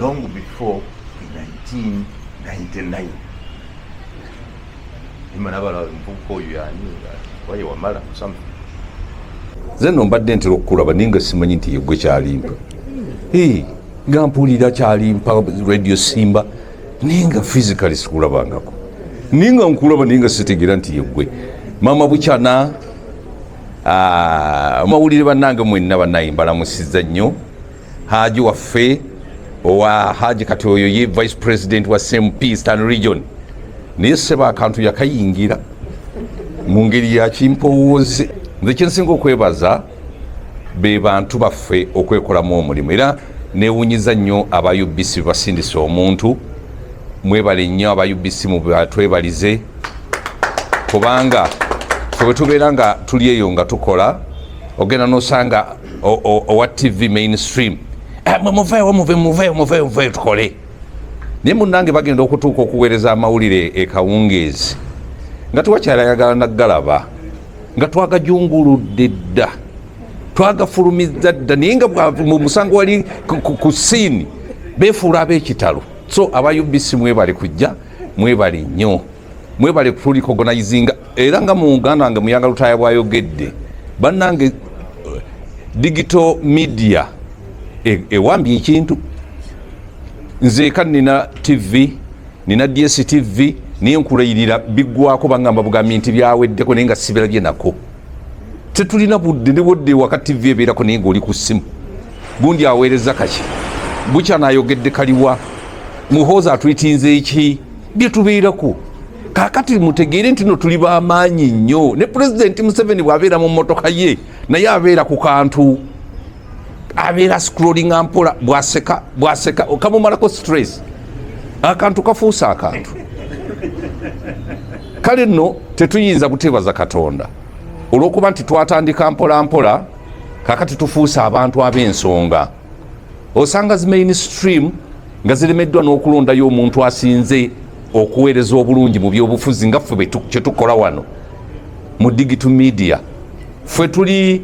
long before 1999 imana abala omuvubuka oyo yani waye wamala something nze no mbadde ntera okukulaba naye nga simanyi nti yegwe kyalimpa nga mpulira kyalimpa radio simba naye nga physically sikulabangako naye nga nkulaba naye nga sitegera nti yegwe mama bukyana ah, amawulire banange mwenna banaye mbalamusiza nnyo Haji waffe owa Haji kati oyo ye vice president wa CMP Eastern region naye seba akantu yakayingira mu ngeri ya kimpowooze nze kyensinga okwebaza be bantu baffe okwekolamu omulimu era newunyiza nnyo aba UBC basindisa omuntu mwebale nnyo aba UBC mubatwebalize kubanga ffe bwe tubeera nga tuli eyo nga tukola ogenda nosanga owa tv mainstream eh, muveewo muve muveewo muveewo muveewo tukole naye munange bagenda okutuuka okuweereza amawulire ekawungeezi nga tewakyala yagala nagalaba nga twagajunguludde dda twagafulumiza dda naye nga musango wali ku siini befuula ab'ekitalo so aba ubc mwebali kujja mwebali nnyo mwebale kutulikogonizinga era nga mu uganda nge muyanga lutaya bwayogedde bannange eh, digital media e, ewambye ekintu nzeeka nina tv nina ds tv naye nkulayirira biggwako bangamba bugambi nti byaweddeko naye nga sibirabye nako tetulina budde nebwodde waka tv ebeerako naye ngaoli ku ssimu gundi aweereza kaki bukyanayogedde kaliwa muhoozi atwitinze eki bye tubeerako kakati mutegeere nti no tuli bamaanyi nnyo ne pulezidenti museveni bwabeera mu motoka ye naye abeera ku kantu abeera scrollinga mpola bwaseka bwaseka kamumalako stress akantu kafuuse akantu kale nno tetuyinza kutebaza katonda olwokuba nti twatandika mpola mpola kakati tufuuse abantu ab'ensonga osanga zi mainstream nga ziremeddwa n'okulondayo omuntu asinze okuweereza obulungi mu byobufuzi nga ffe kyetukola wano mu digital media ffe tuli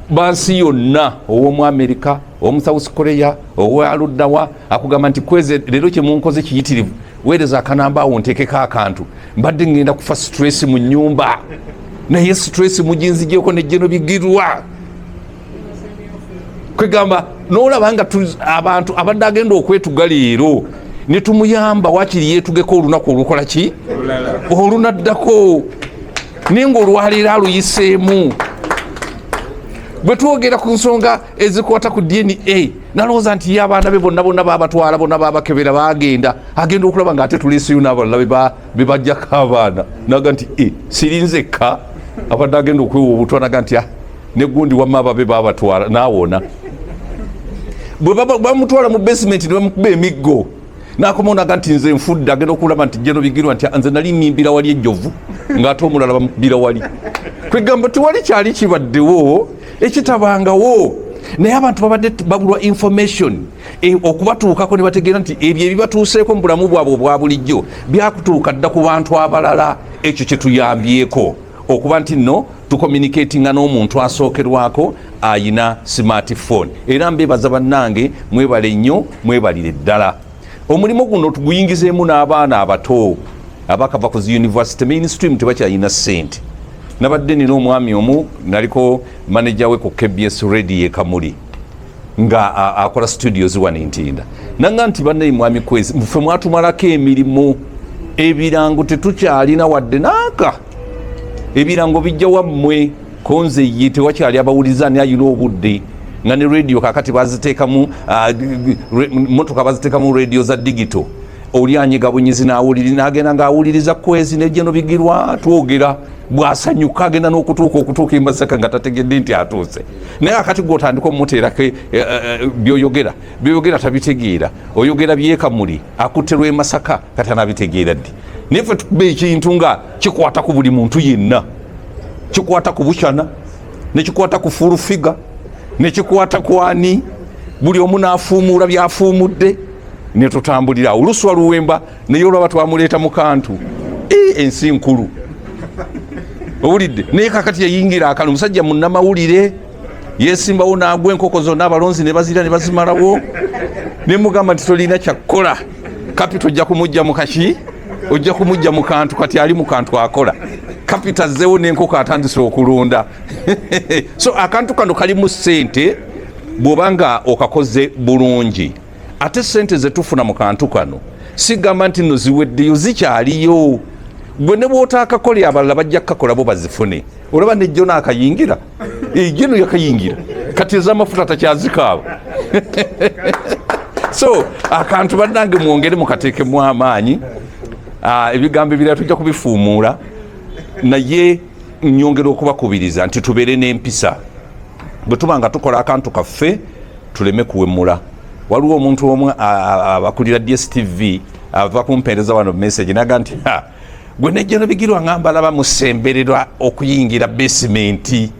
bansi yonna ow'omu amerika omu south korea owaluddawa akugamba nti kweze leero kyemunkoze kiyitirivu weereza akanamba awo ntekeko akantu mbadde ngenda kufa stress mu nyumba naye stress mujinzigyeko nejjeno bigirwa kwegamba nolaba nga abantu abadde agenda okwetuga leero netumuyamba wakiri yetugeko olunaku olukola ki olunaddako naye nga olwaleero aluyiseemu bwe twogera ku nsonga ezikwata ku dna nalowooza nti ye abaana be bonna bonna babatwala bonna babakebera bagenda agenda okulaba nga ate tuleeseyo n'abalala bebajjako abaana naga nti e sirinzekka abadde agenda okwewa obutwa naga nti ah, ne gundi wamma ababe babatwala naawona bwe bamutwala mu basementi ne bamukuba emiggo nakomawo naga nti nze nfudde agenda okulaba nti jeno bigirwa nti nze nali mimbira wali ejjovu ngaate omulala bamukubira wali kwegamba tewali kyali kibaddewo ekitabangawo naye abantu babadde babulwa information e, okubatuukako ne bategeera nti ebyo ebibatuuseeko mu bulamu bwabwe obwa bulijjo byakutuuka dda ku bantu abalala ekyo kyetuyambyeko okuba nti no tucommunicatinga n'omuntu asookerwako ayina smartphone era mbebaza bannange mwebale nnyo mwebalire ddala omulimu guno tuguyingizeemu n'abaana abato abakava ku zi university mainstream tebakyalina ssente nabadde nina omwami omu naliko maneja we ku kbs radio ekamuli nga akola studio ziwa nintinda nanga nti banaye mwami kwezi mfe mwatumalako emirimu ebirango tetukyalina wadde naaka ebirango bijja wammwe konze ye tewakyali abawuliza ani ayina obudde nga ne radio kakati baziteekamu motoka baziteekamu radio za digito oli anyiga bunyizi nawuliri nagenda ngaawuliriza kwezi nejeno bigirwa twogera bwasanyuka agenda n'okutuuka okutuuka embasaka nga tategedde nti atuuse naye akati gwotandika omuteerako eh, eh, eh, byoyogera byoyogera tabitegeera oyogera byekamuli akutte lwemasaka kati anabitegeera ddi naye fe tukuba ekintu nga kikwata ku buli muntu yenna kikwata ku bucana nekikwata ku fulufiga nekikwata ku ani buli omu nafuumuula byafuumudde netutambulira awo luswa luwemba naye olwaba twamuleeta mu kantu e, ensi nkulu owulidde naye kakati yayingira akano omusajja munamawulire yesimbawo nagwa enkoko zonna abalonzi nebazira nebazimalawo nemugamba nti tolina kyakkola kapita ojja kumujja mukaki ojja kumujja mu kantu kati ali mu kantu akola kapita azzewo nenkoko atandise okulunda so akantu kano kalimu sente bwoba nga okakoze bulungi ate sente zetufuna mu kantu kano sigamba nti no ziweddeyo zikyaliyo gwe ne bwotaakakolera abalala bajja kukakola bo bazifune olaba nejjo naakayingira ejjo no yakayingira kati ezamafuta takyazikaabo so akantu bannange mwongere mukateekemu amaanyi ah, ebigambo ebirala tujja kubifuumuula naye nyongera okubakubiriza nti tubeere n'empisa bwe tuba nga tukola akantu kaffe tuleme kuwemula waliwo omuntu omu abakulira dstv ava kumpeereza wano message naga nti gwe nejjeno bigirwa nga mbalaba musembererwa okuyingira basementi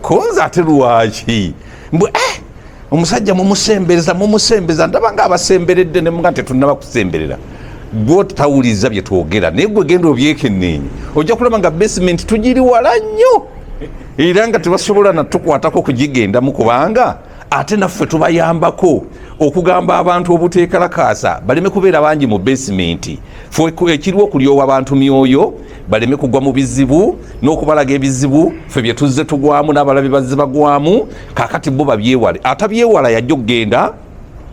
konze ate lwaki mbwe eh, omusajja mumusembereza mumusembeza ndaba nga abasemberedde nemuga nti tetunaba kusemberera gwe tawuliza bye twogera naye gwe genda obyekeneenye ojja kulaba nga basementi tugiri wala nnyo era nga tebasobola natukwatako kugigendamu kubanga ate naffe tubayambako okugamba abantu obuteekalakaasa baleme kubeera bangi mu basementi ekiriwo okulyowa abantu myoyo baleme kugwa mu bizibu n'okubalaga ebizibu fe bye tuzze tugwamu n'abalabi bazze bagwamu kakati bo babyewale atabyewala yajja okugenda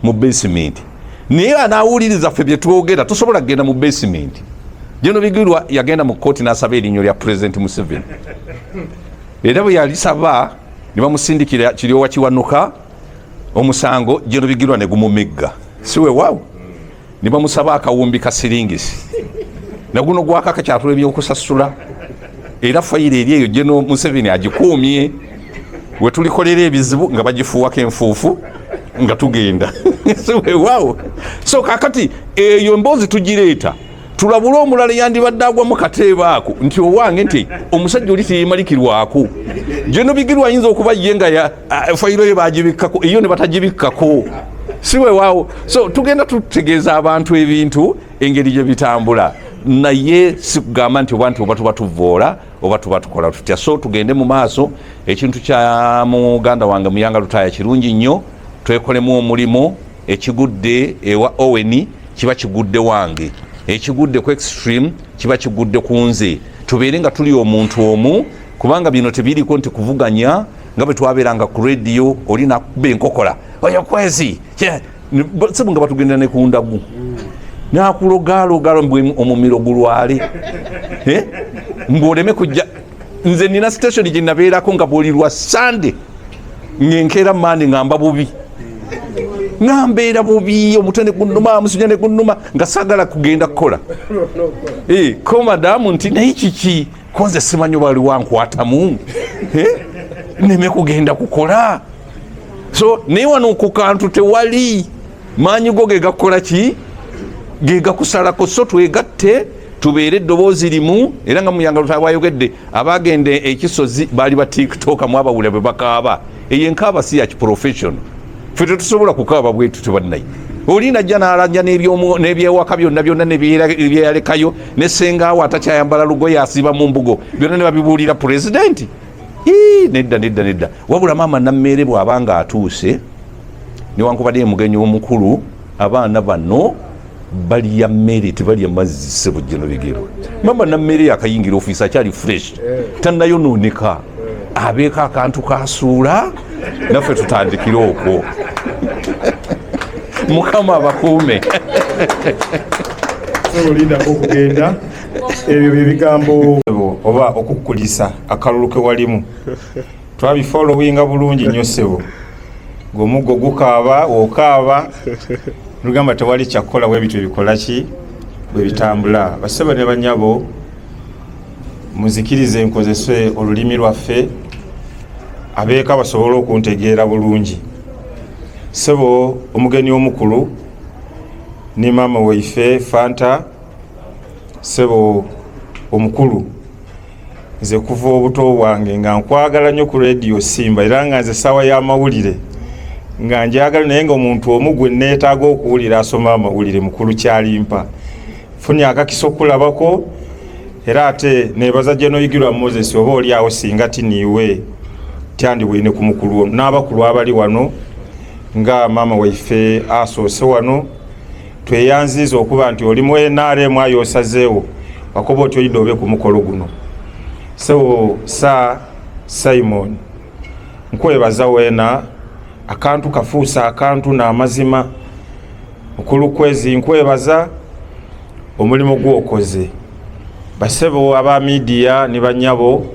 mu basementi naye anawuliriza ffe byetwogera tosobola kugenda mu basementi jeno bigirwa yagenda mu kooti nasaba erinnyo lya pulezidenti museveni era bwe yalisaba ne bamusindikira kiryowa kiwanuka omusango jeno bigirwa ne gumumigga siwewaawo ne bamusaba akawumbi ka siringisi naguno gwakakakyatula ebyokusasula era fayiro eri eyo geno museveni agikuumye wetulikolera ebizibu nga bagifuuwako enfuufu nga tugenda wewawo so kakati eyo emboozi tugireeta tulabule omulala yandibadde agwamu kateeba ako nti owange nti omusajja oli teyeemalikirwako geno bigirwa ayinza okuba ye nga ah, fayiro yo bagibikkako eyo ne batagibikkako si wewaawo so tugenda tutegeeza abantu ebintu engeri gye bitambula naye sikugamba nti oba nti oba tuba tuvoola oba tuba tukola tutya so tugende mu maaso ekintu kya muganda wange muyanga lutaaya kirungi nnyo twekolemu omulimu ekigudde ewa oweni kiba kigudde wange ekigudde ku extreme kiba kigudde ku nze tubeere nga tuli omuntu omu kubanga bino tebiriko nti kuvuganya nga bwe twabeeranga ku rediyo oli nakuba enkokola oyo kwezi sibu nga batugendera ne ku ndagu nakulogaalogalo mbu omumiro gulwale eh? mbu oleme kujja nze nina station gye nabeerako nga bwoli lwa sande ngenkeera mande ngamba bubi nambeera bubi omutwe negunuma amusuja negunuma nga sagala kugenda kukola eh, ko madamu nti naye kiki konze simanyi oba waliwo ankwatamu eh? neme kugenda kukola so naye wano ku kantu tewali maanyi go gegakukola ki gegakusalako so twegatte tubeere eddoboozi limu era nga muyangalutawayogedde abagenda ekisozi baali ba tiktoka mwabawulira bwe bakaaba eyo enkaaba si ya kiprofessional fe tetusobola kukaaba bwetu tebannaye oli najja nalanja n'ebyewaka byonna byonna nebyeyalekayo ne sengaawo atakyayambala lugoye asiiba mu mbugo byonna ne babibuulira pulezidenti nedda nedda nedda wabula maama nammeere bw'aba nga atuuse newankubadde emugenyi omukulu abaana bano balya mmere tebalya mazzi sebujjeno bigero maama nammeere yakayingira ofiisi akyali fresh eh. tanayonooneka abeeko akantu kasuula naffe tutandikire okwo mukama abakuume olindako okugenda ebyo byebigambo oba okukulisa akalulu kewalimu twabifolowinga bulungi nyo sebo gomuggo gukaaba okaaba lugamba tewali kyakukola webityo bikolaki bwebitambula basebo ne banyabo muzikirize nkozese olulimi lwaffe abeeka basobole okuntegeera bulungi sebo omugeni omukulu ne maama waife fanta sebo omukulu nze kuva obuto bwange nga nkwagala nnyo ku rediyo simba era nga nze saawa y'amawulire nga njagala naye nga omuntu omu gwe neetaaga okuwulira asoma amawulire mukulu kyalimpa funye akakisa okulabako era ate nebaza gyenoyigirwa moses oba oliawo singa tiniiwe tyandiwine ku mukulu ono n'abakulu abali wano nga maama waife asoose wano tweyanziiza okuba nti oli mu nrm ayo osazeewo wakuba oti oyidde obe ku mukolo guno so sa simon nkwebaza wena akantu kafuusa akantu n'amazima na mukulu kwezi nkwebaza omulimu gwokoze basebo aba midiya ne banyabo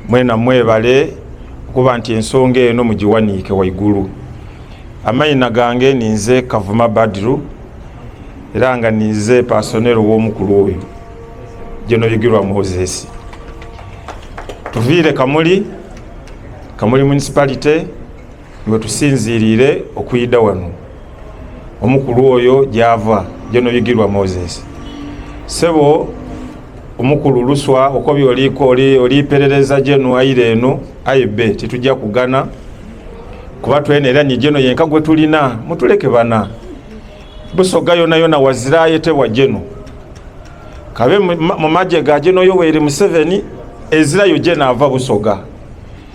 mwena mwebale okuba nti ensonga eno mugiwaniike waigulu amayina gange ninze kavuma badiru era nga ninze pasonero womukulu oyo gyenoyigirwa moses tuviire kamuli kamuli municipality wetusinziirire okuyida wano omukulu oyo gyava gyenobigirwa moses sebo omukulu luswa okobi oliko oliperereza geno aira eno aibe titujja kugana kuba twena era nigeno yenka gwe tulina mutuleke bana busoga yona yona wazirayo tebwa geno kabe mumaje ga geno yoweri museveni ezirayo geno ava busoga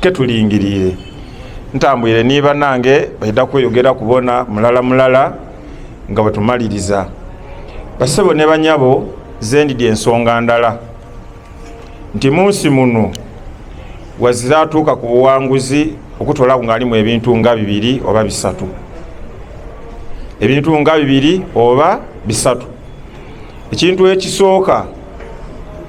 ketulingirire ntambwire ni banange baida kweyogera kubona mulala mulala nga bwetumaliriza basebo ne banyabo zendidi ensonga ndala nti munsi muno wazira atuuka ku buwanguzi okutolaku ngaalimu ebintu nga bibiri oba bisatu ebintu nga bibiri oba bisatu ekintu ekisooka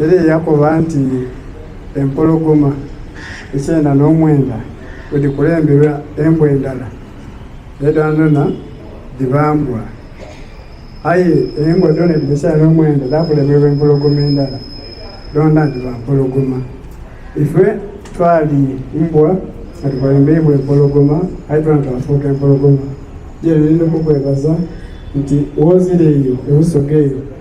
era eyakoba nti empologoma ekyenda n'omwenda wedikulembera embwa endala edanona dibambwa aye embwa dona ebikyenda n'omwenda dakulemerwa empologoma endala dona diba mpologoma ife twali mbwa atukulembeibwa empologoma aye tona twafuuka empologoma jererindokukwebaza nti wozira eyo ebusoga eyo